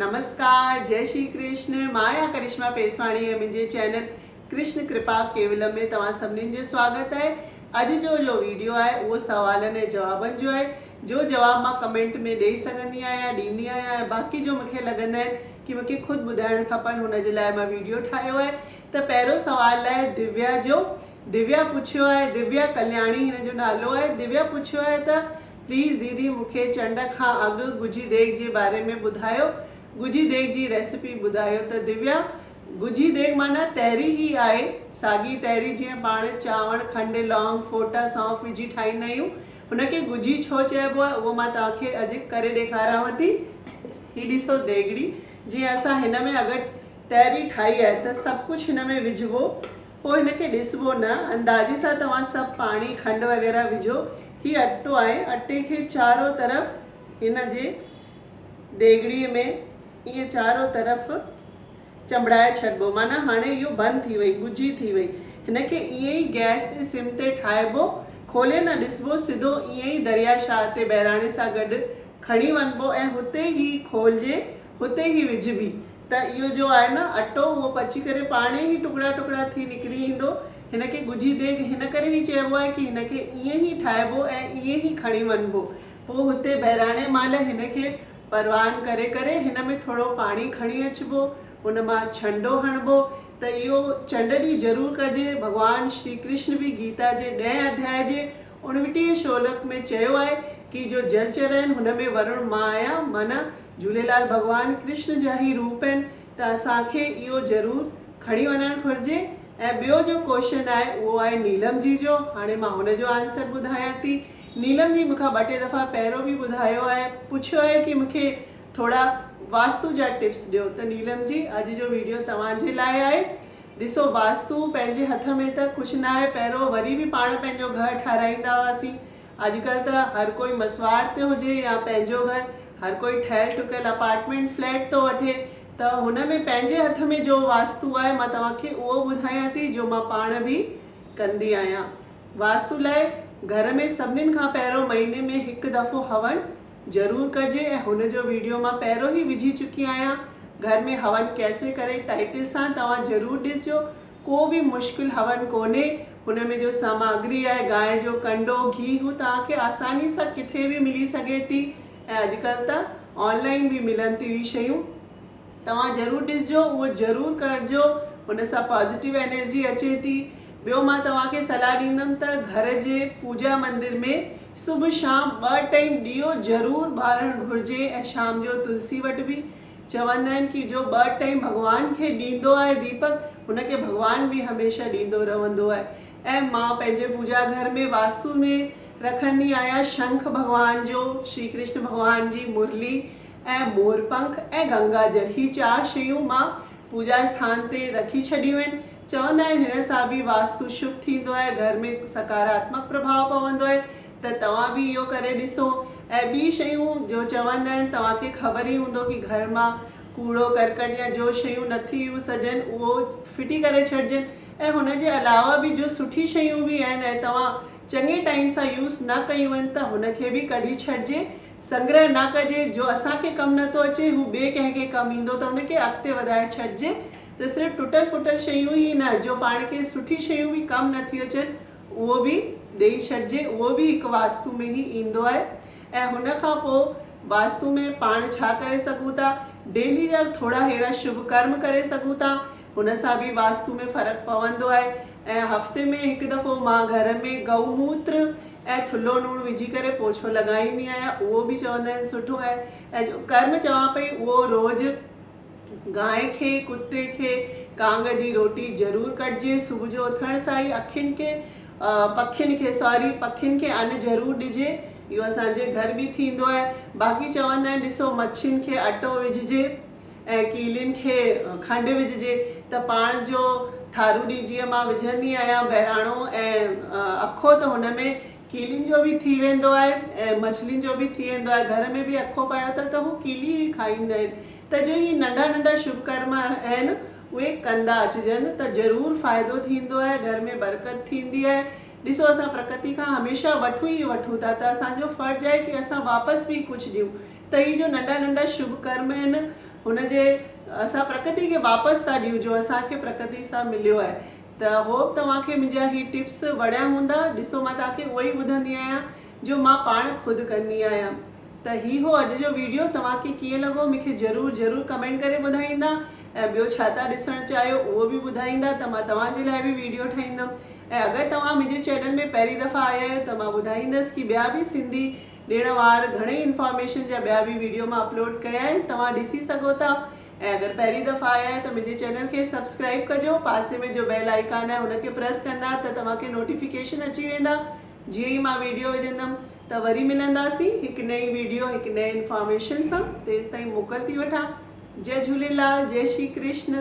نمسڪار جئي شري ڪرشن مان آهيان ڪرشما پيسواڻي ۽ منهنجي چينل ڪرشن ڪرپا ڪيولم ۾ توهان سڀنين جو سواگت آهي اڄ جو جو ويڊيو آهي اهو سوالن ۽ جوابن جو آهي جو جواب مان ڪمينٽ ۾ ڏئي سگهندي آهيان ڏيندي آهيان ۽ باقي جو مونکي لڳندا آهن ڪي مونکي خود ٻڌائڻ کپن هن جي لاء مان ويڊيو ٺاهيو آهي ته پهريون سوال آهي ديويا جو ديويا پڇيو آهي ديويا ڪلياڻي هن جو نالو آهي ديويا پڇيو آهي ته پليز ديدي مون کي چنڊ کان اڳ ڳجهي ديڳ جي باري ۾ ٻڌايو ڳجهي ديڳ جي ريسيپي ٻڌايو ته ديويا ڳجهي ديڳ معنيٰ تهري هي آهي ساڳي تهري جيئن پاڻ چانور کنڊ لونگ ڦوٽا سونف وجهي ٺاهيندا آهيون هن کي ڳجهي ڇو چئبو آهي اهو مان توهان کي اڄ ڪري ڏيکاريانو ٿي هي ڏسو ديڳڙي جيئن اسان هن ۾ اگر تهري ٺاهي آهي ته سڀ ڪجهه هن ۾ وجهبو پوء هن کي ڏسبو نه. اندازي سان توهان سڀ پاڻي، کنڊ وغيره وجهو. هي اٽو آهي. اٽي کي چارو طرف هن جي ديڳڙي ۾ ائين چارو طرف چنبڙائي ڇڏبو. معنيٰ هاڻي اهو بند ٿي وئي، ڳجهي ٿي وئي. هن کي ائين ئي گئس تي سم تي ٺاهبو. کولي نه ڏسبو. سڌو ائين ئي دريا شاهه تي بهراڻي سان گڏ کڻي وڃبو ۽ هتي هي کولجي هتي هي وجهبي ته اهو جو آهي نه اٽو اهو پچي ڪري پاڻهي هي ٽڪڙا ٽڪڙا ٿي نڪري ايندو. هن کي ڳجهي ديڳ هن ڪري هي چئبو آهي ڪي هن کي ائين هي ٺاهبو ۽ ائين هي کڻي وڃبو. پوء هتي بهراڻي مهل هن کي پروان ڪري ڪري هن ۾ ٿورو پاڻي کڻي اچبو ان مان ڇنڊو هڻبو ته اهو چنڊ ڏينهن ضرور ڪجي. ڀڳوان شري ڪرشن به گيتا جي ڏهين اڌياء جي اڻوٽيهين شولڪ ۾ چيو آهي ڪي جو جل چرين هن ۾ ورڻ مان آيا معنيٰ جهوليلال ڀڳوان ڪرشن جا هي روپ آهن ته اسان کي اهو ضرور کڻي وڃڻ گهرجي ۽ ٻيو جو ڪوشن آهي اهو آهي نيلم جي جو هاڻي مان هن جو آنسر ٻڌايان ٿي نيلم جي مونکان ٻه ٽي دفعا پهريون به ٻڌايو آهي پڇيو آهي ڪي مونکي ٿورا واستو جا ٽپس ڏيو ته نيلم جي اڄ جو ويڊيو توهان جي لاء آهي ڏسو واسطو پنهنجي هٿ ۾ ته ڪجهه ناهي پهرو وري به پاڻ پنهنجو گهر ٺهرائيندا هئاسين اڄڪلهه ته هر ڪوئي مسواڙ تي هجي يا پنهنجو گهر هر ڪوئي ٺهيل ٺڪيل اپارٽمينٽ فليٽ ٿو وٺي ته هن ۾ پنهنجي هٿ ۾ جو واسطو آهي مان توهان کي اهو ٻڌايان ٿي جو مان پاڻ به ڪندي آهيان واسطو لاء گهر ۾ سڀنين کان پهرو مهيني ۾ هڪ دفعو هون ضرور ڪجي ۽ هن جو ويڊيو مان پهريون هي وجهي چڪي آهيان گهر ۾ هون ڪيسي ڪري ٽائيٽل سان توهان ضرور ڏسجو ڪو به مشڪل هون ڪونهي هن ۾ جو ساماگري آهي گانء جو ڪنڊو گهي هو توهان کي آساني سان ڪٿي به ملي سگهي ٿي ۽ اڄڪلهه ته آن لائين به ملن ٿيون هي شيون. توهان ضرور ڏسجو اهو ضرور ڪرجو ان سان پازيٽو انرجي اچي ٿي ٻيو مان توهان کي صلاح ڏيندم ته گهر جي پوجا مندر ۾ صبح شام ٻه ٽئيم ڏيئو ضرور ٻارڻ گهرجي ۽ شام جو تلسي وٽ به چوندا آهن ڪي جو ٻه ٽئيم ڀڳوان کي ڏيندو آهي ديپڪ ان کي ڀڳوان به هميشه ڏيندو رهندو آهي ۽ مان پنهنجي پوجا گهر ۾ واستو ۾ رکندي آهيان شنک ڀڳوان جو شري ڪرشن ڀڳوان جي مرلي ۽ مورپنک ۽ گنگا جل هي چار شيون مان پوڄا اسٿان تي رکي ڇڏيون آهن. چوندا آهن هن سان به واستو شڀ ٿيندو آهي، گهر ۾ سڪاراتمڪ پرڀاء پوندو آهي ته توهان به اهو ڪري ڏسو ۽ ٻي شيون جو چوندا آهن توهان کي خبر ئي هوندو ڪي گهر مان ڪوڙو ڪرڪٽ يا جو شيون نٿي يوز هجن اهو ڦٽي ڪري ڇڏجن ۽ هن جي علاوه به جو سٺي شيون به آهن ۽ توهان چڱي ٽائيم سان يوز نه ڪيون آهن ته هن کي به ڪڍي ڇڏجي سنگرهه نه ڪجي، جو اسان کي ڪم نه ٿو اچي، هو ٻئي ڪنهن کي ڪم ايندو ته ان کي اڳتي وڌائي ڇڏجي ته صرف ٽٽل ڦٽل شيون ئي نه، جو پاڻ کي سٺيون شيون به ڪم نه ٿيون اچن، اهو به ڏيئي ڇڏجي، اهو به هڪ واستو ۾ ئي ايندو آهي ۽ هن کان پوء واستو ۾ پاڻ ڇا ڪري سگهون ٿا، ڊيلي جا ٿورا ههڙا شڀ ڪرم ڪري سگهون ٿا، هن سان به واستو ۾ فرق پوندو آهي ۽ هفتي ۾ هڪ دفعو مان گهر ۾ گئو موتر ۽ ٿلهو لوڻ وجهي ڪري پوڇو لڳائيندي آهيان اهو به چوندا آهن سٺو آهي ۽ جو ڪرم چوان پئي اهو روز گانء کي ڪتي کي ڪانگ جي روٽي ضرور ڪڍجي صبح جو اٿڻ سان ئي اکين کي پکين کي ساري پکين کي ان ضرور ڏجي اهو اسان جي گهر به ٿيندو آهي باقي چوندا آهن ڏسو مڇين کي اٽو وجهجي. ۽ ڪيلين کي کنڊ وجهجي ته پاڻ جو ٿارو ڏي جيئن مان وجهندي آهيان بهراڻو ۽ اکو ته هن ۾ ڪيلين جو به ٿي ويندو آهي ۽ مڇلين جو به ٿي ويندو آهي گهر ۾ به اکو پايو ته ته هو ڪيلي ئي کائيندا آهن ته جو اهي ننڍا ننڍا شڀ ڪرم آهن اهي ڪندا اچجن ته ضرور فائدو ٿيندو آهي گهر ۾ برڪت ٿيندي آهي ڏسو اسان پرڪتي کان هميشه وٺون ئي وٺون ٿا ته اسان جو فرض آهي ڪي اسان واپس به ڪجهه ڏيون ته هي جو ننڍا ننڍا شڀ ڪرم آهن هن جي اسان پرڪتي کي واپس ٿا ڏيون جو اسان کي پرڪتي سان مليو آهي ته هوپ توهان کي منهنجا هي ٽپس وڻيا هوندا ڏسو مان توهان کي اهوئي ٻڌندي آهيان جو مان پاڻ خود ڪندي آهيان ته هي هو اڄ جو ويڊيو توهان کي ڪيئن لڳو مون کي ضرور ضرور ڪمينٽ ڪري ٻڌائيندا ۽ ٻيو ڇا ٿا ڏسڻ چاهيو اهو به ٻڌائيندا ته مان توهان جي لاء به ويڊيو ٺاهيندم ۽ اگر توهان منهنجي چينل ۾ پهرين دفعا آيا آهيو ته مان ٻڌائيندس ڪي ٻيا به سنڌي ڏيڻ وار گهڻي انفارميشن جا ٻيا به ويڊيو مان اپلوڊ ڪيا آهن توهان ڏسي سگهو ٿا ۽ اگر پهرين دفعا آيا آهيو ته منهنجي چينل کي سبسڪرائيب ڪجو پاسي ۾ جو بيل آئيڪان آهي ان کي پريس ڪندا ته توهان کي نوٽيفڪيشن اچي ويندا جيئن ئي مان ويڊيو وجهندم ته وري ملنداسين هڪ نئين ويڊيو هڪ نئين انفارميشن سان تيستائين موڪل ٿي وٺان جئه جهوليلال جئه شري ڪرشن.